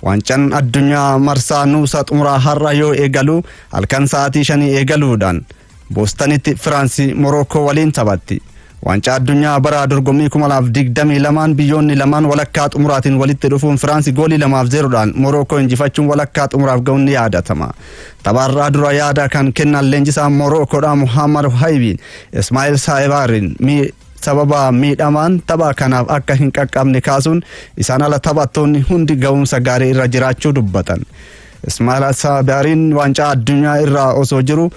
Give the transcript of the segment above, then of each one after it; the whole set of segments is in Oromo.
Waancaan addunyaa marsaa nuusa xumuraa har'a yoo eegalu halkan sa'aatii shanii eegaluudhaan Boostanitti Firaansi Morookoo waliin taphatti. Waancaa addunyaa bara dorgommii 2022 biyyoonni lamaan walakkaa xumuraatiin walitti dhufuun Firaansi goolii lamaaf zeeroodhaan Morookoo injifachuun walakkaa xumuraaf ga'uun ni yaadatama. Taphaarraa dura yaada kan kennan leenjisaa Morookoodhaa Muhammad Haybiin Ismaa'il Saayibaariin sababa miidhamaan tapha kanaaf akka hin qaqqabne kaasuun isaan ala taphattoonni hundi ga'umsa gaarii irra jiraachuu dubbatan. Ismaa'il Asaabiyaariin waancaa addunyaa irraa osoo jiru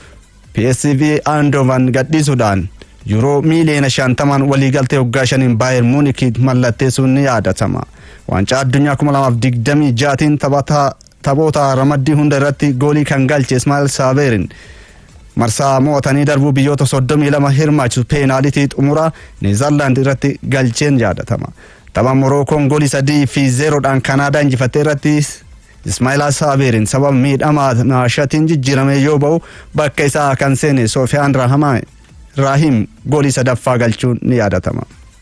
PSV Aandovan gadhiisuudhaan yuuroo miiliyoona shantamaan waliigaltee waggaa shaniin Baayer Muunikii mallatteessuun ni yaadatama. Waancaa addunyaa 2026tiin taphataa Taphoota ramaddii hunda irratti goolii kan galche Ismaa'el Saaveerin marsaa mo'atanii darbuu biyyoota 32 hirmaachisu peenaalitii xumuraa Neezarlaand irratti galcheen yaadatama. Tapha Morookoon goolii 3 fi 0dhaan Kanaadaa injifatte irratti Ismaa'el Saaveerin sababa miidhama naashatiin jijjiiramee yoo ba'u bakka isaa kan seene Soofiyaan Raahim goolii sadaffaa galchuun ni yaadatama.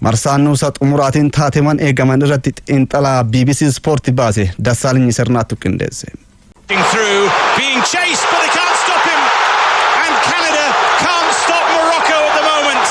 Marsaa nuusa xumuraatiin taateewwan eegaman irratti xiinxalaa bbc Sport baase Dassaalinyi Sirnaattu qindeesse. through, being chased, but they can't stop him. And Canada can't stop Morocco at the moment.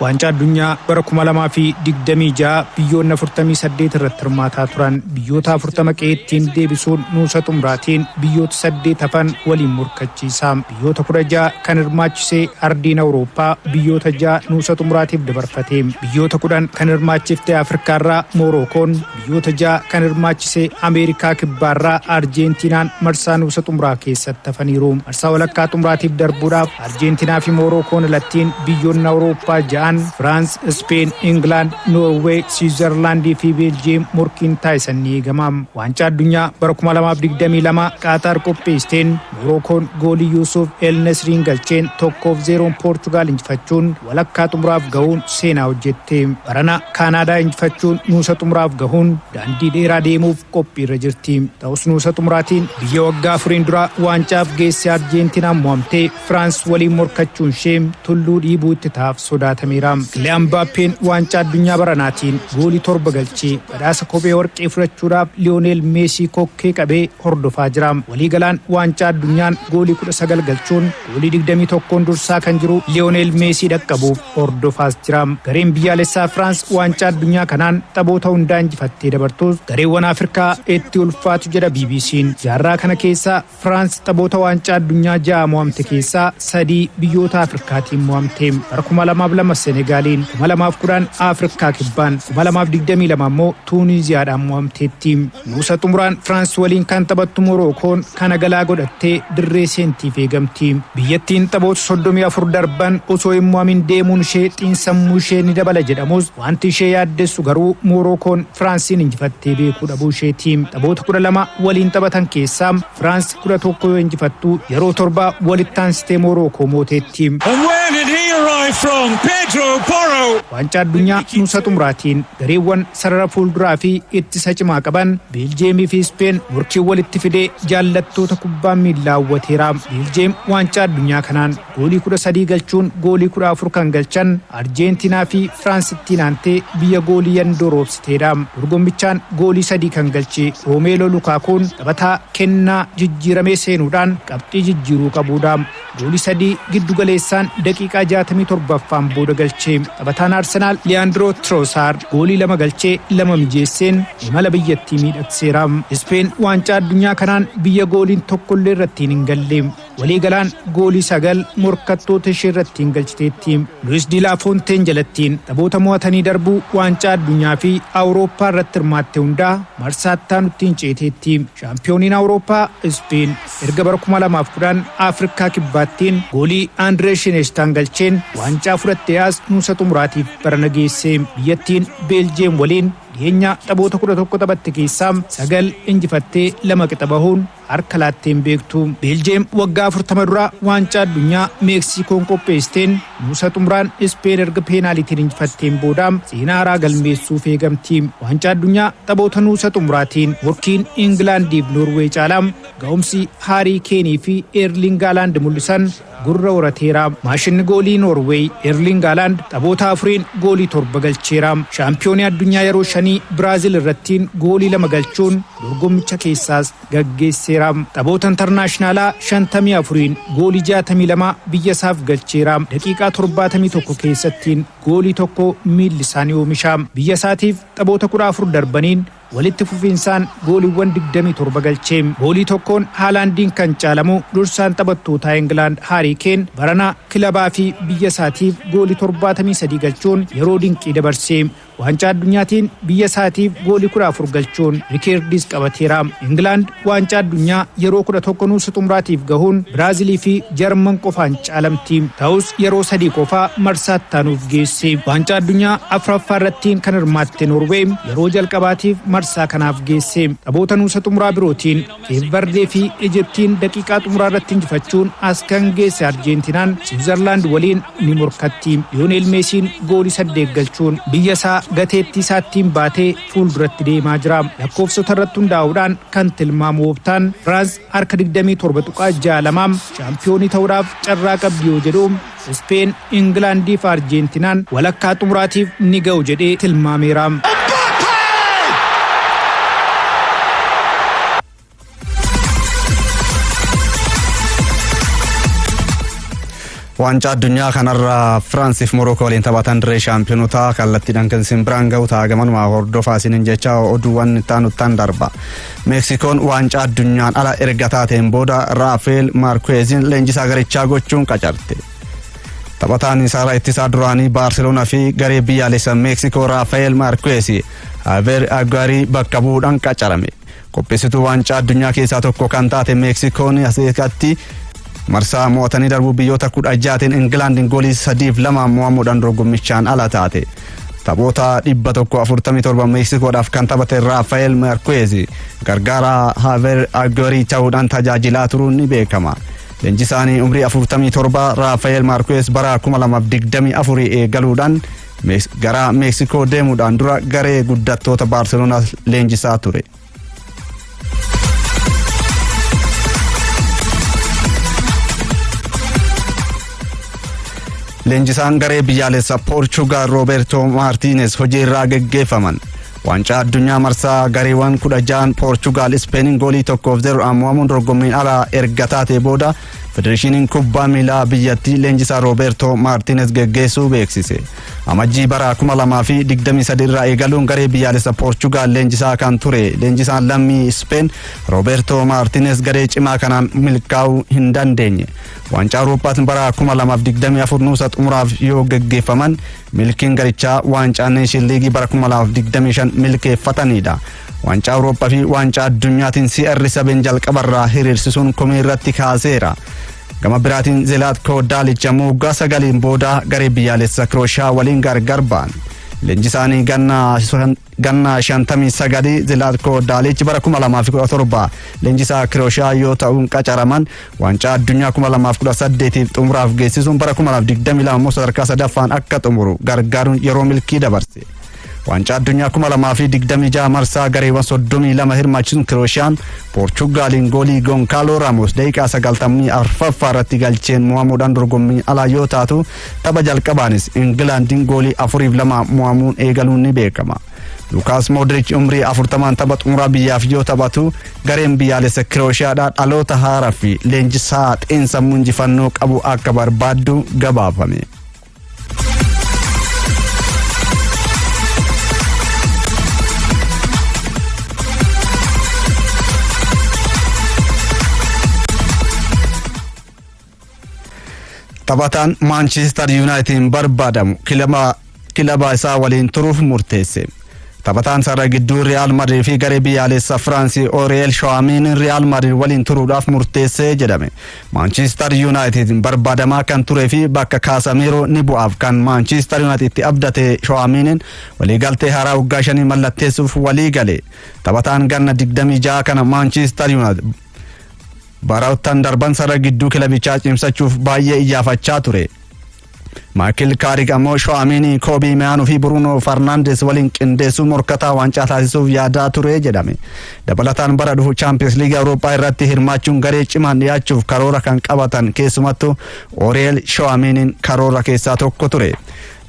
Waancaa addunyaa bara 2026 biyyoonni 48 irratti hirmaataa turan biyyoota 40 qe'eettiin deebisuun nuusa xumuraatiin biyyoota 8 hafan waliin morkachiisa. Biyyoota 16 kan hirmaachisee Ardiin Awurooppaa biyyoota 6 nuusa xumuraatiif dabarfatee biyyoota 10 kan hirmaachifte Afrikaarraa Moorookoon biyyoota 6 kan hirmaachisee Ameerikaa Kibbaarraa Arjeentiinaan marsaa nuusa xumuraa keessatti hafaniiru. Marsaa walakkaa xumuraatiif darbuudhaaf Arjeentinaa fi Moorookoon alattiin biyyoonni Awurooppaa 6n Firaans, Ispeen, Ingilaand, Noorweey, Siwiizarlaandii fi Beeljiyeem morkiin taasisan ni eegama. Waancaa Addunyaa bara 2022 Qaataar qopheessteen Morookoon goolii Yuusuuf El Nesriin galcheen 1 fi 0n Poorchugaal injifachuun walakkaa xumuraaf gahuun seenaa hojjette. Barana Kaanaadaa injifachuun nuusa xumuraaf gahuun daandii dheeraa deemuuf qophiirra jirti. Ta'us nuusa xumuraatiin biyya waggaa afuriin dura waancaaf geesse Arjeentinaan mo'amtee Firaans waliin morkachuunshee tulluu dhiibuu itti ta'aaf sodaatameera. Kiliyaan Mbaappeen waancaa addunyaa baranaatiin goolii 7 galchee Badhaasa kophee warqee fudhachuudhaaf Liyooneel Meesii kokkee qabee hordofaa jira. Waliigalaan waancaa addunyaan goolii 19 galchuun goolii 21n dursaa kan jiru Liyooneel Meesii dhaqqabuuf hordofaas jira. Gareen biyyaalessaa Firaans waancaa addunyaa kanaan taphoota hundaa injifattee dabartuus gareewwan Afirkaa itti ulfaatu jedha BBCn. Jaarraa kana keessa Firaans taphoota waancaa addunyaa ja'a mo'amte keessaa sadii biyyoota Afrikaatiin mo'amte. Bara 2002 Senegaaliin, 2010 Afrikaa Kibbaan, 2022 immoo Tuuniiziyaadhaan mo'amteetti. Nuusa xumuraan Firaans waliin kan taphattu Morookoon kana galaa godhattee dirree seentiif eegamti. Biyyattiin taphoota 34 darban osoo hin mo'amin deemuun ishee xiinsammuu ishee ni dabala jedhamus Wanti ishee yaaddessu garuu Moorookoon Firaansiin injifattee beekuu dhabuu isheeti. Taphoota 12 waliin taphatan keessaa Firaansi 11 yoo injifattu yeroo torba walitti aansitee Moorookoo mooteetti. And where did he arrive from? Pedro Porro! Waancaa Addunyaa nuusa xumuraatiin gareewwan sarara fuulduraa fi ittisa cimaa qaban Beeljiyeemii fi Ispeen morkii walitti fidee jaallattoota kubbaa miillaa hawwateera. Beeljiyeem waancaa addunyaa kanaan Goolii 13 galchuun goolii 14 kan galchan Arjeentinaa fi Firaans ittiin aantee biyya goolii yandoo roobsiteedha. Dorgommichaan goolii sadii kan galche Roomeeloo Lukaakuun taphataa kennaa jijjiiramee seenuudhaan qabxii jijjiiruu qabuudha. Goolii sadii giddu galeessaan daqiiqaa 67ffaan booda galche. Taphataan Arsenaal Liyaandiroo Tiroosaar goolii lama galchee lama mijeesseen imala biyyattii miidhagseera. Ispeen waancaa addunyaa kanaan biyya gooliin tokkollee irratti hin galle. Waliigalaan goolii sagal morkattoota ishee irratti hin galchiteetti. Luwis Di Laa Foonteen jalatti taphoota mo'atanii darbuu Waancaa Addunyaa fi Awurooppaa irratti hirmaatte hundaa marsaa itti aanutti hin ceeteetti. Shaampiyooniin Awurooppaa Ispeen erga bara 2010 Afrikaa Kibbaattiin goolii Andiree Shineeshtaan galcheen waancaa fudhattee as nuusa xumuraatiif barana geesse. Biyyattiin Beeljiyeem waliin dhiheenya taphoota 11 taphatte keessaa sagal injifattee lama qixa bahuun harka laattee hin beektu. Beeljeem waggaa 40 dura waancaa addunyaa Meeksiikoon qopheessteen nuusa xumuraan Ispeen erga peenaalitiin injifatteen booda seenaa haaraa galmeessuuf eegamti. Waancaa addunyaa taphoota nuusa xumuraatiin morkiin Ingilaandiif Noorweey caalaa ga'umsi Haarii Keenii fi Eerliing Haalaand mul'isan Gurra horateera. Maashinni goolii Noorweey Eerliing Haalaand taphoota afuriin goolii torba galcheera. Shaampiyoonii addunyaa yeroo shanii Biraazil irrattiin goolii lama galchuun dorgommicha keessaas gaggeesseera. Taphoota intarnaashinaalaa shantamii afuriin goolii jaatamii lama biyya isaaf galcheera. Daqiiqaa torbaatamii tokko keessattiin goolii tokko miilli isaa ni oomisha. Biyya isaatiif taphoota kudha afur darbaniin Walitti fufiinsaan gooliwwan 27 galche. Goolii tokkoon Haalaandiin kan caalamu dursaan taphattootaa Ingilaand Haarii Keen barana kilabaa fi biyya isaatiif goolii 73 galchuun yeroo dinqii dabarse. Waancaa Addunyaatiin biyya isaatiif goolii 14 galchuun rikeerdiis qabateera. Ingilaand Waancaa Addunyaa yeroo 11 nuusa xumuraatiif gahuun Biraazilii fi Jarman qofaan caalamti. Ta'us yeroo sadii qofaa marsaa ittaanuuf geesse. Waancaa Addunyaa 4ffaa irratti kan hirmaatte Noorweey yeroo jalqabaatiif marsaa kanaaf geesse. Taphoota nuusa xumuraa birootiin Keep Vardee fi Ijiptiin daqiiqaa xumuraa irratti injifachuun as kan geesse Arjeentinaan Siwiizarlaand waliin ni morkatti. Liyooneel Meesiin goolii saddeet galchuun biyya isaa gateettii isaattiin baate. fuulduratti deemaa jira. Lakkoofsota irratti hundaa'uudhaan kan tilmaamu Ooptaan Firaans harka 27.62 shaampiyoonii ta'uudhaaf carraa qabdi yoo jedhu Ispeen, Ingilaandii fi Arjeentinaan walakkaa xumuraatiif ni ga'u jedhee tilmaameera. Waancaa addunyaa kanarra Firaansiif Morookoo waliin taphatan dirree shaampiyonotaa kallattiidhaan kan isin biraan gahu ta'a gamanumaa hordofaa isiniin jecha oduuwwan itti aanuttaan darba. Meeksikoon waancaa addunyaan ala erga taateen booda Raafeel Maarkuweeziin leenjisaa garichaa gochuun qacarte. Taphataan isaarraa ittisaa duraanii Baarseloonaa fi garee biyyaalessa Meeksikoo Raafeel Maarkuweezi Aver Agaarii bakka bu'uudhaan qacarame. Qopheessituu waancaa addunyaa keessaa tokko kan taate Meeksikoon asitti marsaa mo'atanii darbuu biyyoota kudha jaatiin Ingilaandiin goolii sadiif lama mo'amuudhaan dorgommichaan ala taate. Taphoota 147 Meeksikoodhaaf kan taphate Raafael Markuweezi gargaaraa Haaver Agorii ta'uudhaan tajaajilaa turuun ni beekama. Leenjisaanii umrii 47 Raafael Markuweez bara 2024 eegaluudhaan Gara Meeksikoo deemuudhaan dura garee guddattoota Baarseloonaa leenjisaa ture. Leenjisaan garee biyyaalessa Poorchugaal Roobertoo Maartiines hojiirraa geggeeffaman. Waancaa addunyaa marsaa gareewwan kudha ja'an Poorchugaal Ispeeniin goolii tokkoof zeroodhaan mo'amuun dorgommiin alaa erga taatee booda Federeeshiniin kubbaa miilaa biyyattii leenjisaa Roobeertoo Maartiines geggeessuu beeksise. Amajjii bara 2023 irraa eegaluun garee biyyaalessa Poorchugaal leenjisaa kan ture leenjisaan lammii Ispeen Roobeertoo Maartiines garee cimaa kanaan milkaa'uu hin dandeenye. Waancaa Awurooppaatiin bara 2024 nuusa xumuraaf yoo geggeeffaman milkiin garichaa waancaa Neeshin Liigii bara 2025 milkeeffatanidha. Waancaa Awurooppaa fi waancaa addunyaatiin CR7 jalqabarraa hiriirsisuun komii irratti kaaseera. Gama biraatiin Zelaatkoo Daalicha ammoo waggaa sagaliin booda garee biyyaalessa Kirooshiyaa waliin gargar ba'an. Leenjisaanii ganna 59 Zelaatkoo Daalichi bara 2017 leenjisaa Kirooshiyaa yoo ta'uun qacaraman waancaa addunyaa 2018 xumuraaf geessisuun bara 2022 immoo sadarkaa sadaffaan akka xumuru gargaaruun yeroo milkii dabarse. Waancaa addunyaa 2026 marsaa gareewwan 32 hirmaachisuun Kirooshaan Poorchugaaliin goolii Gonkaaloo Raamos daqiiqaa 94ffaa irratti galcheen mo'amuudhaan dorgommii alaa yoo taatu tapha jalqabaanis Ingilaandiin goolii 4-2 mo'amuun eegaluun ni beekama. Lukaas Moodriich umrii 40 tapha xumuraa biyyaaf yoo taphatu gareen biyyaalessa Kirooshaadhaa dhaloota haaraa fi leenjisaa xiinsammuu injifannoo qabu akka barbaaddu gabaafame. Taphataan Maanchiistar Yuunaayitiin barbaadamu kilaba kilaba isaa waliin turuuf murteesse. Taphataan sarara gidduu Riyaal Madrid fi garee biyyaalessa Firaansi Oriyeel Shawaamin Riyaal Madrid waliin turuudhaaf murteessee jedhame. Maanchiistar Yuunaayitid barbaadamaa kan turee fi bakka Kaasameeroo ni bu'aaf kan Maanchiistar Yuunaayitid itti abdate Shoo'amiiniin waliigaltee haaraa waggaa shanii mallatteessuuf walii gale. Taphataan ganna 26 kana Maanchiistar Yuunaayitid baroottan darban sarara gidduu kilabichaa cimsachuuf baay'ee iyyaafachaa ture. Maakil Kaarik ammoo Shoo'amiinii, Koobii Meyaanuu fi Buruunoo Farnaandes waliin qindeessuu morkataa waancaa taasisuuf yaadaa ture jedhame. Dabalataan bara dhufu Chaampiyoons Liigii Awurooppaa irratti hirmaachuun garee cimaan dhiyaachuuf karoora kan qabatan keessumattuu Oriyeel Shoo'amiiniin karoora keessaa tokko ture.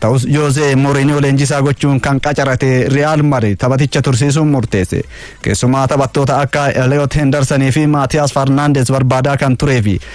Ta'us Joozee Mooriiniyoo leenjisaa gochuun kan qacarate Riyaal Madrid taphaticha tursiisuun murteesse. Keessumaa taphattoota akka Eliyoot Hendarsanii fi Maatiyaas Farnaandes barbaadaa kan turee fi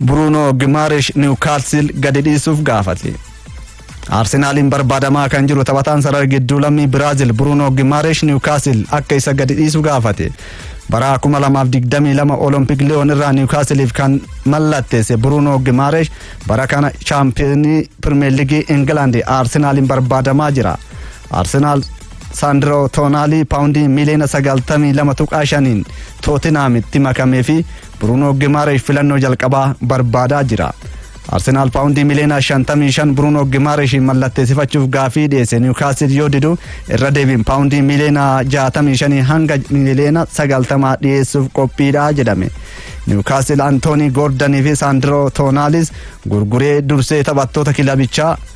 Buruunoo Gimaarish Niwkaasil gadi dhiisuuf gaafate. Arsenaaliin barbaadamaa kan jiru taphataan sarara gidduu lammii Biraazil Buruunoo Gimaarish Niwkaasil akka isa gadi dhiisu gaafate. Bara 2022 Olompik Liyoon irraa Niwkaasiliif kan mallatteesse Buruunoo Gimaarish bara kana chaampiyoonii Pirimeer Liigii Ingilaandi Arsenaaliin barbaadamaa jira. Arsenaal Saandiroo Toonaalii paawundii miiliyoona 92.5n Tootinaamitti makamee fi Buruunoo Gimaareesh filannoo jalqabaa barbaadaa jira. Arsenaal paawundii miiliyoona 55 Buruunoo Gimaareeshiin mallatteessifachuuf gaafii dhiyeesse Niwukaastil yoo didu irra deebiin paawundii miiliyoona 65 hanga miiliyoona 90 dhiyeessuuf qophiidha jedhame. Niwukaastil Antoonii Goordanii fi Saandiroo Toonaalis gurguree dursee taphattoota kilabichaa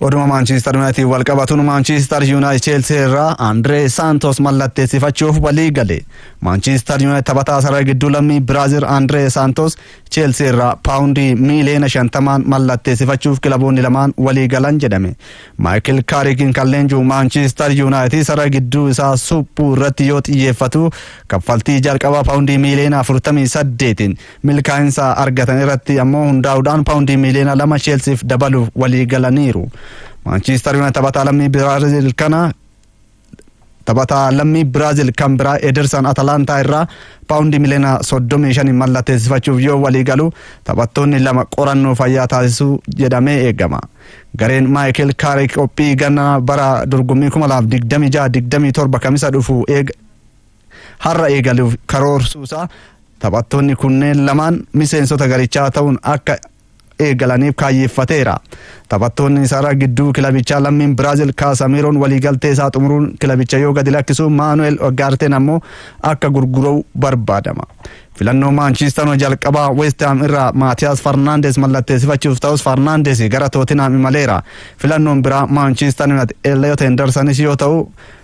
Oduma Maanchiistar Yuunaayitid wal qabatuun Maanchiistar Yuunaayitid Cheelsii irraa Andiree Saantos mallatteessifachuuf walii gale. Maanchiistar Yuunaayitid taphataa sarara gidduu lammii Biraazil Andiree Saantos Cheelsii irraa paawundii miiliyoona shantamaan mallatteessifachuuf kilaboonni lamaan walii galan jedhame. Maayikil Kaariikiin kan leenjuu Maanchiistar Yuunaayitid sarara gidduu isaa suphuu irratti yoo xiyyeeffatu kaffaltii jalqabaa paawundii miiliyoona 48 Milkaa'insa argatan irratti ammoo hundaa'uudhaan paawundii miiliyoona lama Cheelsiif dabaluuf walii galaniiru. Maanchiistar Yuunaayitid taphataa lammii Biraazil kana taphataa lammii Biraazil kan biraa Edersan Atalaantaa irraa paawundii miliyoona 35 mallatteessifachuuf yoo walii galu taphattoonni lama qorannoo fayyaa taasisuu jedhamee eegama. Gareen Maayikel Kaarik qophii ganna bara dorgommii 2026-27 kamisa dhufu eega har'a eegaluuf karoorsuusaa taphattoonni kunneen lamaan miseensota garichaa ta'uun akka eegalaniif kaayyeeffateera. Taphattoonni isaarraa gidduu kilabichaa lammiin Biraazil Kaasamiiroon waliigaltee isaa xumuruun kilabicha yoo gadi lakkisu Maanu'eel Ogaarteen ammoo akka gurguramu barbaadama. Filannoo Maanchiistaanoo jalqabaa Weestihaam irraa Maatiyaas Farnaandees mallatteessifachuuf ta'us Farnaandees gara Tootinaam imaleera. Filannoon biraa Maanchiistaan Yuunaayitid Elliot Hendersanis yoo ta'u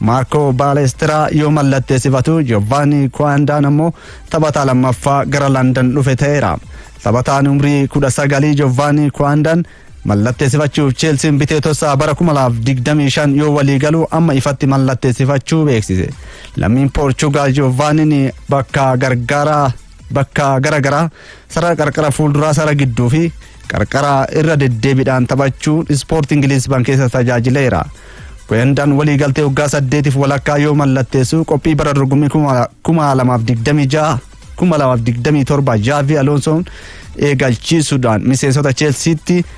Maarkoo Baaleestiraa yoo mallatteessifatu Giovanni Kwaandaan ammoo taphataa lammaffaa gara Landan dhufe ta'eera. Taphataan umrii 19 Giovanni Kwaandaan mallatteessifachuuf Cheelsiin bitee tossaa bara 2025 yoo walii galu amma ifatti mallatteessifachuu beeksise. Lammiin Poorchugaal Giovanniin bakka gargaaraa bakka gara garaa Sarara qarqara fuulduraa, sarara gidduu fi qarqara irra deddeebiidhaan taphachuun ispoortii Ingiliizban keessa tajaajileera. Goyandaan waliigaltee waggaa saddeetiif walakkaa yoo mallatteessu qophii bara dorgommii kuma lamaaf digdamii ja'a kuma lamaaf digdamii torba Jaavi Aloonsoon eegalchiisuudhaan miseensota Cheelsiitti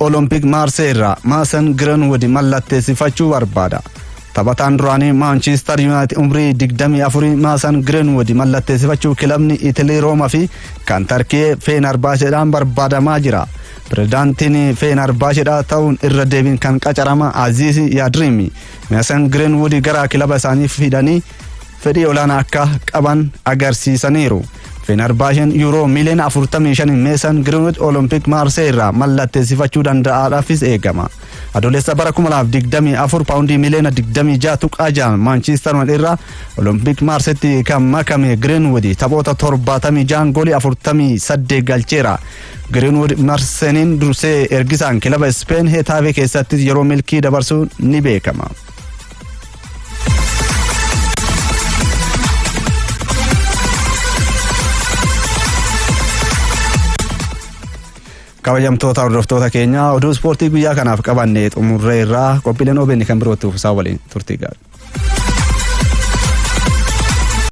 Olompik Maarsee irraa Maasan Giranwud mallatteessifachuu barbaada. Taphataan duraanii Maanchiistar Yuunaayitid umrii 24 Maasan Giranwud mallatteessifachuu kilabni Itilii Rooma fi kan Tarkiyee Feenarbaasheedhaan barbaadamaa jira. Pirezidaantiin Feenarbaasheedhaa ta'uun irra deebiin kan qacarama Aziiz Yaadriimi. Maasan Giranwud gara kilaba isaanii fidanii fedhii olaanaa akka qaban agarsiisaniiru. Fenerbahcen Yuuroo miiliyoona 45 Meesan Giriinwich Olompik Maarsee irraa mallatteessifachuu danda'aadhaafis eegama. Adoolessa bara 2024 paawundii miiliyoona 26.6 Maanchiistar Yunaayitid irraa Olompik Maarseetti kan makame Giriinwich taphoota 76 goolii 48 galcheera. Giriinwich Marseniin dursee ergisaan kilaba Ispeen Hetaavee keessattis yeroo milkii dabarsuu ni beekama. kabajamtoota hordoftoota keenya oduu ispoortii guyyaa kanaaf qabanne xumurree irraa qophiileen OBN kan birootti uffisa waliin turtii gaarii.